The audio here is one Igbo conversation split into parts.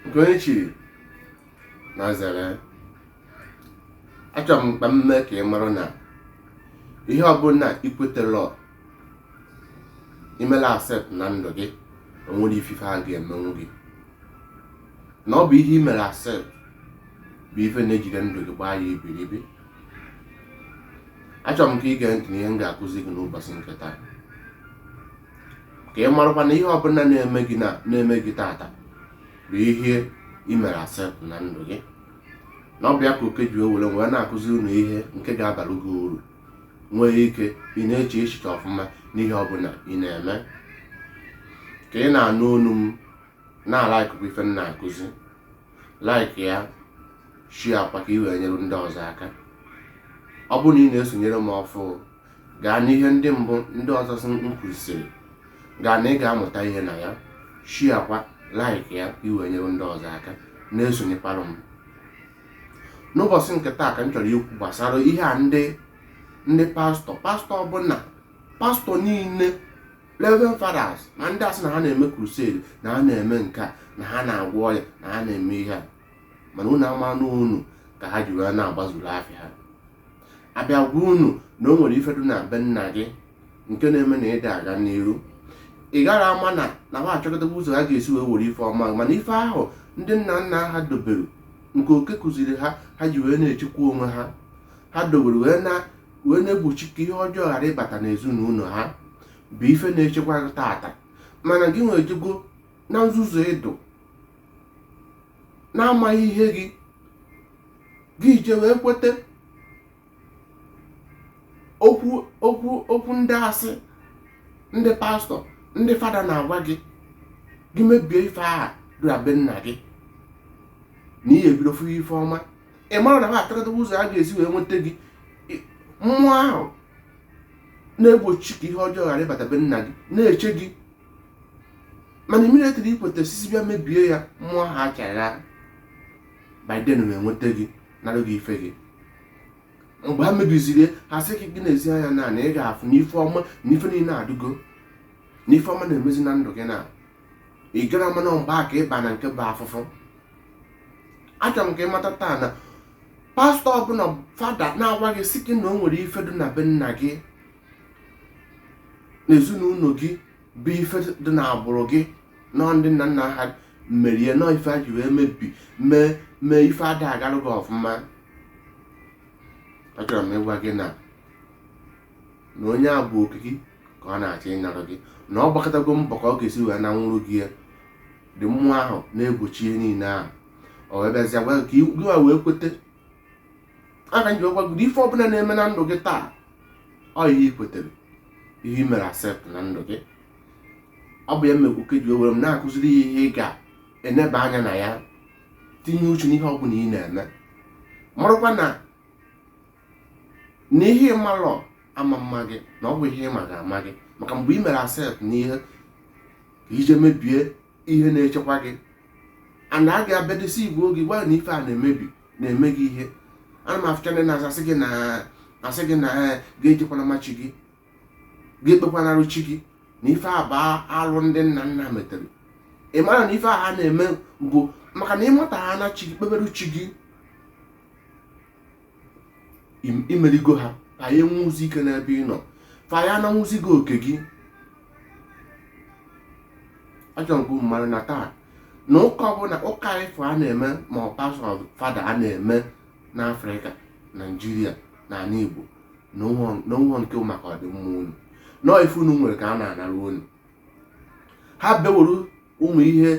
nke onye chiri nya zere achọrọ m ka m mee ka ị mara na ihe ọbụla ikwetarọ imerọ accept na ndụ gị onwerọ ifife a ga-emenwu gị na ọ bụ ihe imere accept bụ ife na-ejide ndụ gị gbaa ya ibiribi achọrọ m ka ị gee ntị na ihe m ga-akụzi gị n'ụbọsị nke taa ka ị marakwa na ihe ọbụla na-eme gị na na-eme gị tata bụ ihe i mere accept na ndụ gị na ọ bụ ya ka oke ji wee were wee na-akụzi unu ihe nke ga-abara gị uru nwee ike ị na-eche echiche ọfụma n'ihe ọbụla ị na-eme ka ị na-anụ olu m na-alike kwa ife m na-akụzi like ya share kwa ka ị wee nyere ndị ọzọ aka ọ bụrụ na ị na-esonyere m ọfụ gaa n'ihe ndị mbụ ndị ọzọ sị m kwusiri gaa na ị ga-amụta ihe na ya share kwa like ya ị wee nyere ndị ọzọ aka na-esonyekwara m n'ụbọsị nke taa ka m chọrọ ikwu gbasara ihe a ndị ndị pastọ pastọ ọbụla pastọ niile reverend fathers na ndị a sị na ha na-eme crusade na ha na-eme nke a na ha na-agwọ ọrịa na ha na-eme ihe a mana unu ama na unu ka ha ji wee na-agbazuru afịa ha abịa gwa unu na o nwere ife dụ na be nna gị nke na-eme na ị da aga n'iru ị gara ama na na ha achọkọtaba ụzọ ha ga-esi wee were ife ọma mana ife ahụ ndị nna nna ha dobere nke oke kụziri ha ha ji wee na-echekwa onwe ha ha dobere wee na-egbochi ka ihe ọjọọ ghara ịbata n'ezinụlọ ha bụ ife na-echekwa tata mana gị nwa ejego na nzuzu ị dụ na amaghị ihe gị gị eje wee kweta okwu ndị asị ndị pastọ ndị fada na-agwa gị gị mebie ife aha dị na be nna gị na ị ya-ebido fụ ife ọma ị marọ na ha achọkọta ụzọ ha ga-esi wee nweta gị mmụọ ahụ na-egbochi ka ihe ọjọọ ghara ịbata be nna gị na-eche gị mana immediately ikweta sị sị bịa mebie ya mmụọ aha achara by then ha enweta gị nara gị ife gị mgbe ha mebiziri ha sị gị nezie anya na na ị ga-afụ na ife ọma na ife niile adịgo na ife ọma na-emezi na ndụ gị na ị gara ama na mgbe a ka ịba na nke bụ afụfụ achọrọ m ka ịmata taa na pastọ ọbụla fada na-agwa gị sị gị na o nwere ife dị na be nna gị na ezinụlọ gị bụ ife dị na agbụrụ gị na ndị nna nna ha merie na ife ji wee mebi mee mee ife ada agarụ gị ọfụma achọrọ m ịgwa gị na na onye a bụ oke gị ka ọ na-achọ ịnarụ gị na ọ gbakatago mbọ ka ọ ga-esi wee nanwụrụ gị ya ndị mmụọ ahụ na-egbochi ihe niile ahụ ọ wee bịazịa gwa gị ka gịwa wee kwete aka jikwa gị ife ọbụla na-eme na ndụ gị taa ọ ihe i kwetere ihe i mere accept na ndụ gị ọ bụ ya mekwu ka ji ewere m na-akụziri ya ihe ị ga-eneba anya na ya tinye uche n'ihe ọbụla ị na-eme marakwa na na ihe ị marọ ama ama gị na ọ bụ ihe ị ma ga-ama gị maka mgbe ị mere accept n'ihe ị jee mebie ihe na-echekwa gị ana a ga-abịadesi igwe oge gwa na ife a na-emebi na-eme gị ihe ana m afụcha ndị na-asị gị na asị gị na eh, gị ejekwana ma chi gị gị ekpekwanara chi gị na ife a bụ alụ ndị nna nna metere ị mara na ife a ha na-eme bụ maka na ị mata ha na chi gị kpebere chi gị i merigo ha fa aya enwezi ike n'ebe ị nọ fa aya ananwụzi gị oke gị achọrọ m ka ị mara na taa na ụka ọbụla ụka ife a na-eme ma ọ pastọ fada a na-eme n'afrịka naijiria na ala igbo na ọ bụrọ nke maka ọdịmma unu na ọ ife unu nwere ka a na-anara unu ha bịa were ụmụ ihe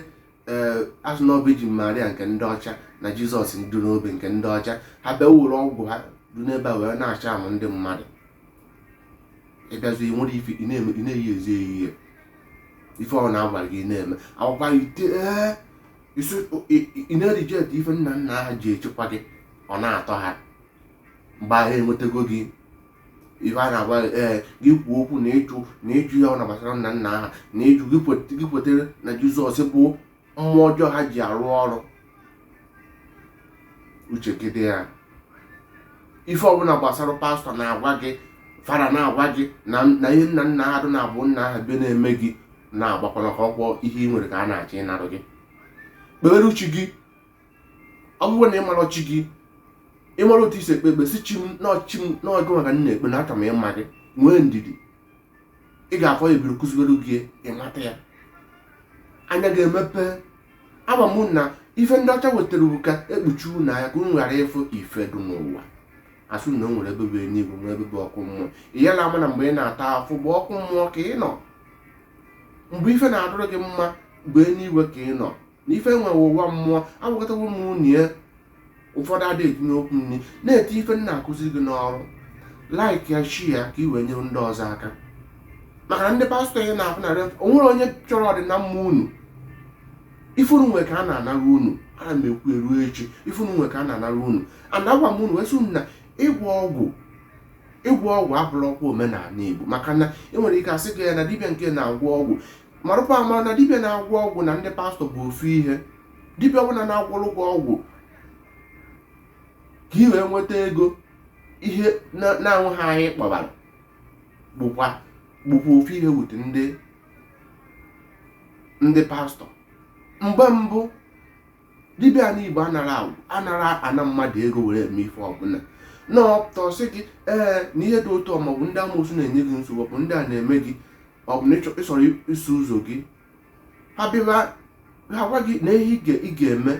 ee a sị na ọ bụ virgin maria nke ndị ọcha na jizọs dị n'obe nke ndị ọcha ha bịa were ọgwụ ha dị n'ebe a wee na-acharm ndị mmadụ ị bịazi were ife ị na-eme ị na-eyi ezi eyihe ife ọ na-agwa gị na-eme akụwa ite ee isi ị na-ereject ife nna nna ha ji echekwa gị ọ na-atọ ha mgbe ahụ enwetago gị ife a na-agwa ee eh, gị kwuo okwu na ịjụ na ịjụ ihe ọbụna gbasara nna nna ha na ịjụ gị kwetere na jizọs bụ mmụọ ọjọọ ha ji arụ ọrụ uche gị dị ya ife ọbụla gbasara pastọ na-agwa gị fada na-agwa gị na ihe nna nna ha dụ na-abụ nna ha be na-eme gị na-agbakwana ka ọkwa ihe ị nwere ka a na-achọ ịnarụ gị kpebere chi gị ọ bụrụ na ị marọ chi gị ị marọ otu e si ekpe ekpe sị chi m n'ọchị m n'ọgụ maka nna ekpe na aka m ịma gị nwee ndidi ị ga-afụ ya ebiri kụziwere gị ị mata ya anya ga-emepe ama m na ife ndị ọcha wetara bụ ka e kpuchi unu anya ka unu ghara ịfụ ife dị n'ụwa a sị na o nwere ebe bụ eluigwe nwee ebe bụ ọkụ mmụọ ị yala ama na mgbe ị na-ata afụfụ bụ ọkụ mmụọ ka ị nọ mgbe ife na-adụrụ gị mma bụ eluigwe ka ị nọ na ife enweghị ụwa mmụọ agwakọtawo m unu ya ụfọdụ adị etinye okwu nri na-eti ife m na-akụzi gị n'ọrụ like ya share ya ka i wee nyere ndị ọzọ aka maka na ndị pastọ ị na-afụ na rev onwerọ onye chọrọ ọdịnamma unu ife unu nwe ka a na-anara unu ana m ekwu eruo echi ife unu nwe ka a na-anara unu ana agwa m unu wee sị unu na ịgwọ ọgwụ ịgwọ ọgwụ abụrọkwa omenala igbo maka na enwere ike asị gị ya na dibịa nke na-agwọ ọgwụ marụkwa amara na dibịa na-agwọ ọgwụ na ndị pastọ bụ ofu ihe dibịa ọbụla na-agwọrụ gị ọgwụ ka ị wee nweta ego ihe na-anwụghị anyị kpọbara bụkwa bụkwa ofu ihe wute ndị ndị pastọ mgbe mbụ dibịa na igbo anarọ agwọ anarọ ana mmadụ ego were eme ife ọbụla na ọ pụta ọ sị gị ee na ihe dị otu a ma ọ bụ ndị amoosu na-enye gị nsogbu bụ ndị a na-eme gị ọ bụ na ịchọrọ iso ụzọ gị ha bịa ha gwa gị na ihe ị ga-eme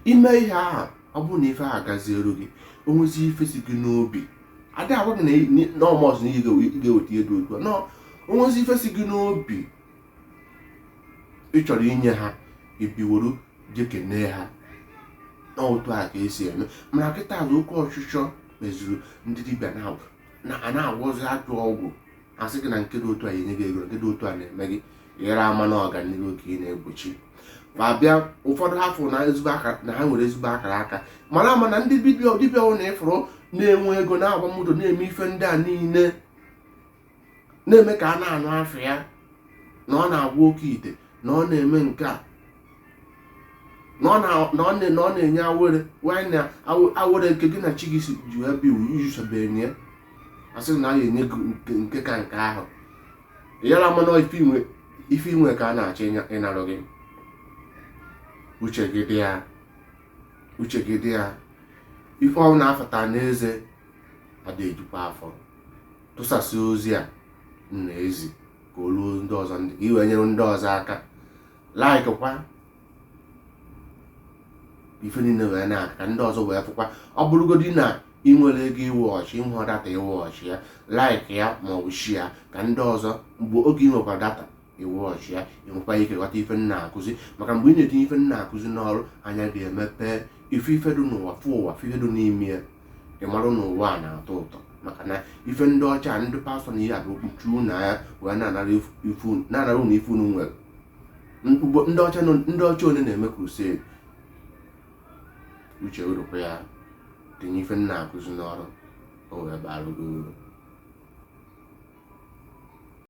i mee ihe ahụ ọ bụrụ na ife ahụ gaziere gị onwezi ife si gị n'obi adị agwa gị na ọ must na ị ga-eweta ihe dị otu a onwezi ife si gị n'obi ị chọrọ inye ha i bịa were je kene ha n'otu a ka esi eme mana kịta azụ oke ọchịchọ meziri ndị dibịa na a na-agwọzi ajọ ọgwụ asị gị na nke dị otu a enye gị ego nke dị otu a na-eme gị yara ama na ọganihu ka ị na-egbochi ma bịa ụfọdụ afụ na ezigbo aka na ha nwere ezigbo akara aka mara ama na ndị dibịa dibịa unu fụrụ na-enwe ego na-agba moto na-eme ife ndị a niile na-eme ka a na-anụ afa ya na ọ na-agwọ oke ite na ọ na-eme nke a na ọ na- na ọ na- na ọ na-enye awere wanyị na aw- awere nke gị na chi gị si ji wee bịa ụwa ị usebeghị ya asị na a ga-enye gị nke- nke ka nke ahụ yara ama na ife ị nwe ife ị nwe ka a na-achọ ịnya- ịnarụ gị uche gị dị ya uche gị dị ya ife unu na-afata n'eze adịghị ejukwa afọ tụsasị ozi a m na-ezi ka o ruo ndị ọzọ ndị ka i wee nyere ndị ọzọ aka like kwa ife niile wee na-aka ka ndị ọzọ wee fụkwa ọ bụrụgodi na ị nwerọ ego i wee watch ị nwehụ data i wee watch ya like ya ma ọ bụ share ya ka ndị ọzọ mgbe oge ị nwekwa data ị watch ya ị nwekwa ike ghọta ife m na-akụzi maka mgbe ị na-etinye ife m na-akụzi n'ọrụ anya gị emepee ị fụ ife dị n'ụwa fụ ụwa fụ ihe dị n'ime ya ị marụ na ụwa a na-atọ ụtọ maka na ife ndị ọcha ndị pastọ na-eme bụ ikpuchi unu anya wee na-anara ifu- ife unu- na-anara unu ife unu nwere N- ugbo- ndị ọcha nọ- ndị ọcha one na-eme crusade uche unu rukwa ya tinye ife m na-akụzi n'ọrụ o wee bara gị uru